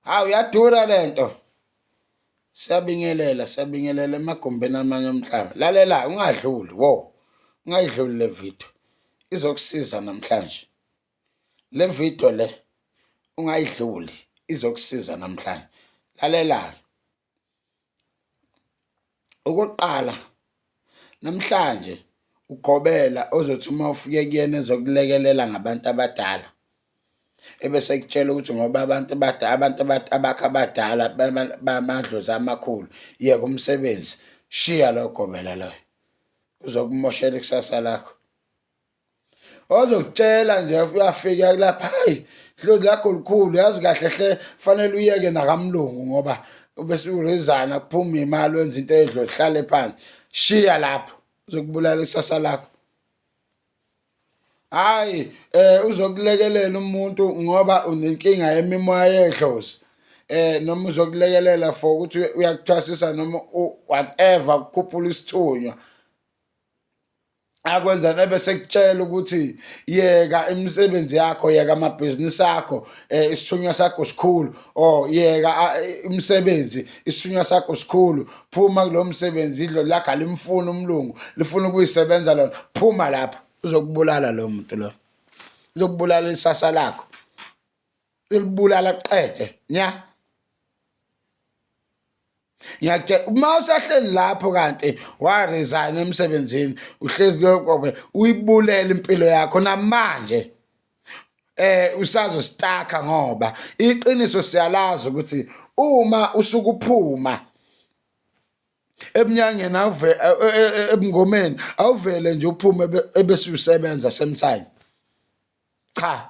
hawu yadura lento siyabingelela siyabingelela emagumbini amanye omhlaba lalela ungadluli wo ungayidluli le video izokusiza namhlanje le video le ungayidluli izokusiza namhlanje lalela Okokuqala namhlanje uGqobela ozothi uma ufike kuyena ezokulekelela ngabantu abadala ebese ekutshela ukuthi ngoba abantu abadala abantu abakhe abadala bamadlozi amakhulu yeka umsebenzi shiya loyo Gqobela loyo uzokumoshela ikusasa lakho. ozokutshela nje uyafika kulapha hayi hlozi lakho likhulu yazi kahle hle fanele uyeke nakamlungu ngoba bese urezana kuphuma imali wenza into edlo hlale phansi shiya lapho uzokubulala isasa lakho hayi eh uzokulekelela umuntu ngoba unenkinga yemimoya yedlozi eh noma uzokulekelela for ukuthi uyakuthwasisa noma whatever ukukhuphula isithunywa akwenza nebe sekutshela ukuthi yeka imisebenzi yakho yeka amabhizinisi akho eh, isithunywa sakho sikhulu or yeka imisebenzi isithunywa sakho sikhulu phuma kulo msebenzi idlo lakho alimfuni umlungu lifuna ukuyisebenza lona phuma lapho uzokubulala lo muntu lo uzokubulala isasa lakho elibulala qede nya ngiyatshela uma usahleli lapho kanti waresign emsebenzini uhlezi kuyokobe uyibulele impilo yakho namanje eh usazo staka ngoba iqiniso siyalazi ukuthi uma usukuphuma ebunyangeni awuve e, e, e, ebungomeni awuvele nje uphume ebese usebenza same time cha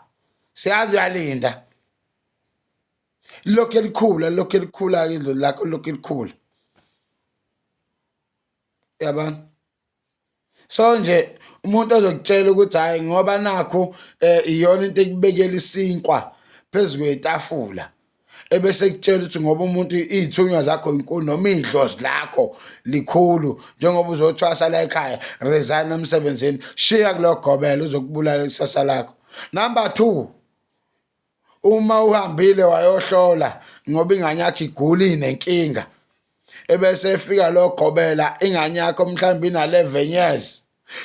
siyazi uyalinda lokhu elikhula lokhu elikhula ke idlozi lakho lokhu elikhula yabona so nje umuntu ozokutshela ukuthi hayi ngoba nakho eh iyona into ekubekela isinkwa phezu kwetafula ebese kutshela ukuthi ngoba umuntu iy'thunywa zakho inkulu noma iy'dlozi lakho likhulu njengoba uzothwasa la ekhaya resign emsebenzini shiya kulogobela uzokubulala ikusasa lakho number two uma uhambile wayohlola ngoba ingane yakho iguli nenkinga ebese efika logobela ingane yakho mhlawumbe ina-11 years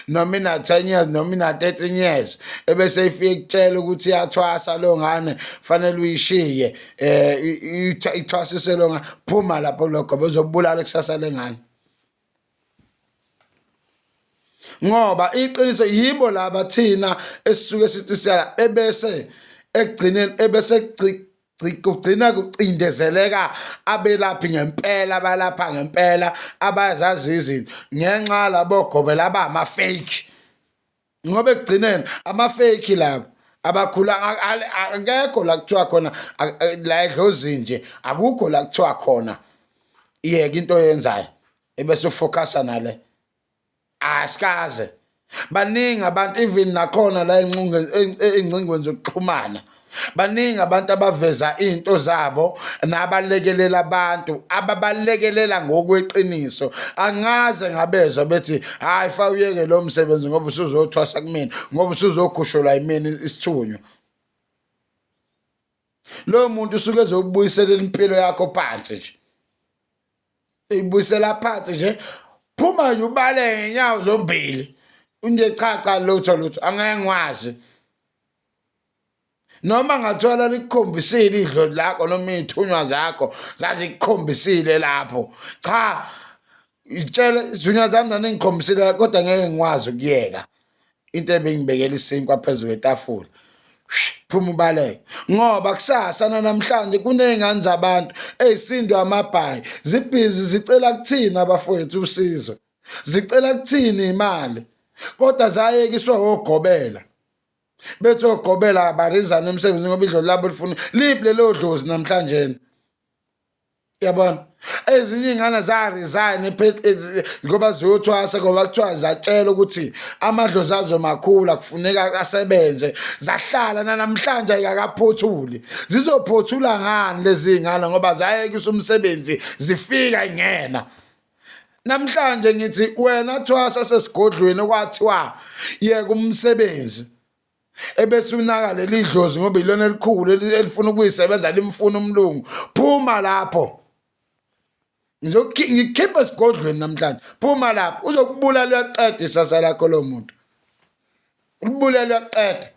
noma ina-10 years noma ina-13 years ebese ifike kutshela ukuthi iyathwasa lo ngane fanele uyishiye um ithwasise lo ngane phuma lapho kulogoba uzobulala ikusasa lengane ngoba iqiniso yibo laba thina esisuke sithi siya ebese ekugcineni ebese kugcina kucindezeleka abelaphi ngempela abalapha ngempela abazazi izinto ngenxa labo gobe laba ama-fake ngoba ekugcineni ama-fake labo abakhula akekho la kuthiwa khona la edlozini nje akukho la kuthiwa khona iyeke into oyenzayo ebese ufocasa nale asikaze baningi abantu even nakhona la engcingweni zokuxhumana baningi abantu abaveza into zabo nabalekelela abantu ababalekelela ngokweqiniso angaze ngabezwa bethi hayi fa uyeke lo msebenzi ngoba usuzothwasa kumina ngoba usuzokhushulwa yimina isithunywa loyo muntu usuke ezokubuyisela impilo yakho phansi nje ibuyisela phansi nje phuma nje ubale ngenyawo zombili unje cha cha lutho lutho angeke ngwazi noma ngathola likukhombisile idlodi lakho noma iy'thunywa zakho zazikukhombisile lapho cha itshele izinywa zami naningikhombisile kodwa ngeke ngikwazi ukuyeka into ebengibekela isinkwa phezulu kwetafula phuma ubaleke ngoba kusasa nanamhlanje kuney'ngane zabantu ey'sindwe amabhayi zibhizi zicela kuthini abafowethu usizo zicela kuthini imali kodwa zayekiswe ogobela bethi ogobela abarizane emsebenzini ngoba idlolo labo lifuna liphi lelo dlozi namhlanje yabona ezinye iy'ngane za-resign ngoba ziyothwasa ngoba kuthiwa zatshelwa ukuthi amadlozi azo makhulu akufuneka asebenze zahlala nanamhlanje ayikakaphothuli zizophothula ngani lezi y'ngane ngoba zayekisa umsebenzi zifika ingena namhlanje ngithi wena thwasa sesigodlweni okwathiwa yeka umsebenzi ebese unaka leli dlozi ngoba ilona elikhulu elifuna ukuyisebenza limfuna umlungu phuma lapho ngikhiphe esigodlweni namhlanje phuma lapho uzokubulala uyaqeda isasa lakho lo muntu ulibulala uyaqeda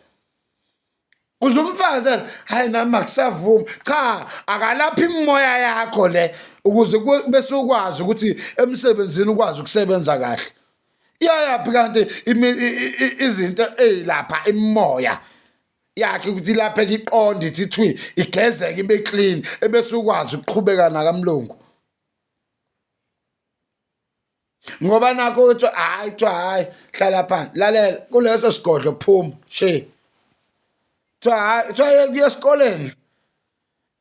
uze umfazi hayi nami akusavumi cha akalaphi imimoya yakho le ukuze bese ukwazi ukuthi emsebenzini ukwazi ukusebenza kahle iyayaphi kanti izinto ezilapha imimoya yakhe ukuthi lapha iqonde ithi thwi igezeke ibe clean ebese ukwazi ukuqhubeka nakamlungu ngoba nakho uthi hayi kuthiwa hayi hlala phansi lalela kuleso sigodlo phuma she kuthiwa hayi kuthiwa kuye esikoleni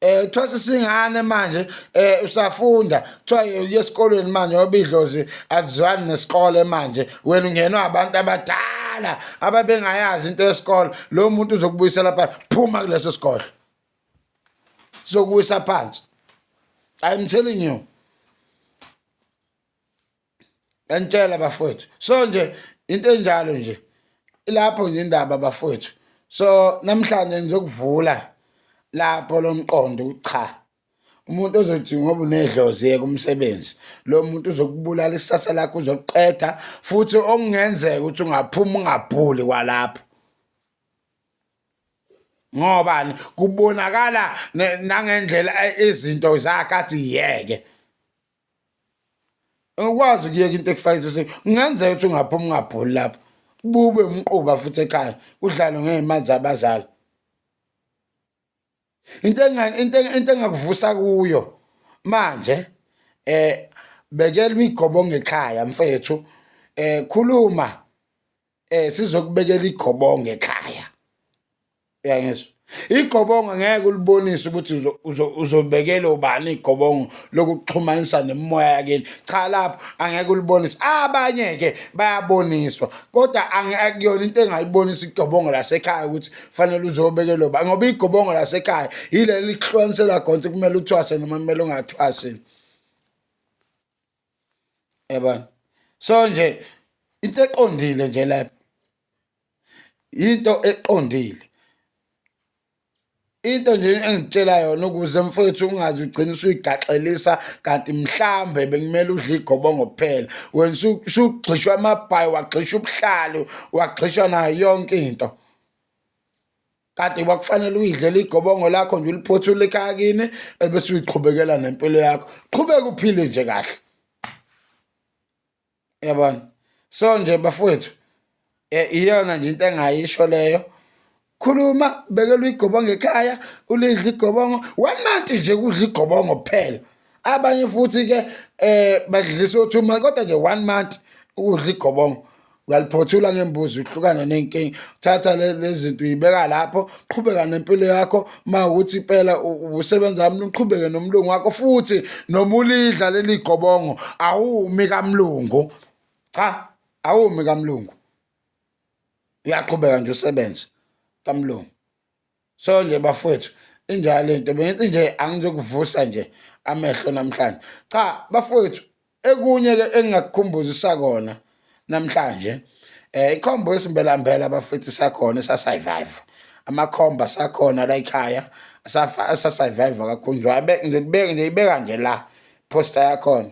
eh kuthiwa sisingane manje eh usafunda kuthiwa uye esikolweni manje obidlozi akuzwani nesikole manje wena ungenwa abantu abadala ababengayazi into yesikole lo muntu uzokubuyisela phansi phuma kuleso sikole sokubuyisa phansi i'm telling you yanitshela bafowethu so nje into enjalo nje ilapho nje indaba bafowethu so namhlanje ngizokuvula lapho lomqondo ucha umuntu ozothi ngoba unedlozi yeke umsebenzi lo muntu uzokubulala isasa lakho uzokuqeda futhi okungenzeka ukuthi ungaphuma ungabhuli kwalapho ngobani kubonakala nangendlela izinto zakhe athi yeke ukwazi ukuyeka into ekufaka isisi kungenzeka ukuthi ungaphuma ungabholi lapho bube umquba futhi ekhaya kudlalwe ngey'mali zabazali into into engakuvusa kuyo manje eh bekelwa igobo ngekhaya mfethu eh khuluma eh sizokubekela igobongo ekhaya uyangizwa igobongo ngeke ulibonise ukuthi uzobekela ubani igobongo lokuxhumanisa nemimoya yakini cha lapho angeke ulibonise abanye ke bayaboniswa kodwa akuyona into engayibonisa igobongo lasekhaya ukuthi fanele uzobekela ubani ngoba igobongo lasekhaya yileli lihlukanisela khona ukuthi kumele uthwase noma kumele ungathwasi yabona so nje into eqondile nje lapho into eqondile into nje engitshela yona ukuze mfowethu ungazi ugcina usuyigaxelisa kanti mhlambe bekumele udle igobongo kuphela wena usugxishwa amabhayi wagxisha ubuhlalu wagxishwa nayo yonke into kade kwakufanele uyidlela igobongo lakho nje uliphothule ekhaya kini ebese uyiqhubekela nempilo yakho qhubeka uphile nje kahle yabona so nje bafowethu eh, iyona nje into engayisho leyo khuluma bekela igobongo ekhaya ulidla igobongo one month nje kudla igobongo kuphela abanye futhi ke eh badlisa u2 month kodwa nje 1 month ukudla igobongo uyaliphothula ngembuzi uhlukane nenkingi thatha lezinto uyibeka lapho qhubeka nempilo yakho ma ukuthi impela usebenza wami uqhubeke nomlungu wakho futhi noma ulidla leli gobongo awumi kamlungu cha awumi kamlungu uyaqhubeka nje usebenze kamlungu so nje bafowethu injalo into bengithi nje angizokuvusa nje amehlo namhlanje cha bafowethu ekunye ke engingakukhumbuzisa kona namhlanje eh ikhombo esimbelambela bafethu sakhona sasurvive amakhomba sakhona la ekhaya safa sasurvive kakhulu nje ngibeke nje ibeka nje la poster yakhona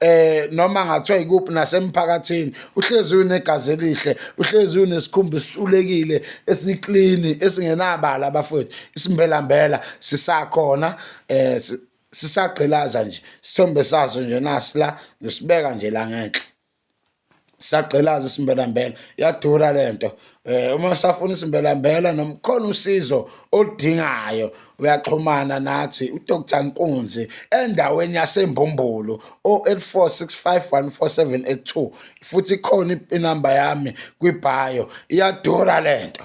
eh noma ngathiwa ikuphi nasemphakathini uhlezi unegazi elihle uhlezi unesikhumba esiculekile esiklini esingenabala abafowethu isimbelambela sisakhona eh sisagqilaza nje sithombe sazo nje nasila nosibeka nje la ngenhla sagqilaza isimbelambela yadura le nto um uma usafuna isimbelambela noma khona usizo oludingayo uyaxhumana nathi udr nkunzi endaweni yasembumbulu o-846514782 futhi ikhona inamba yami kwibhayo iyadura le nto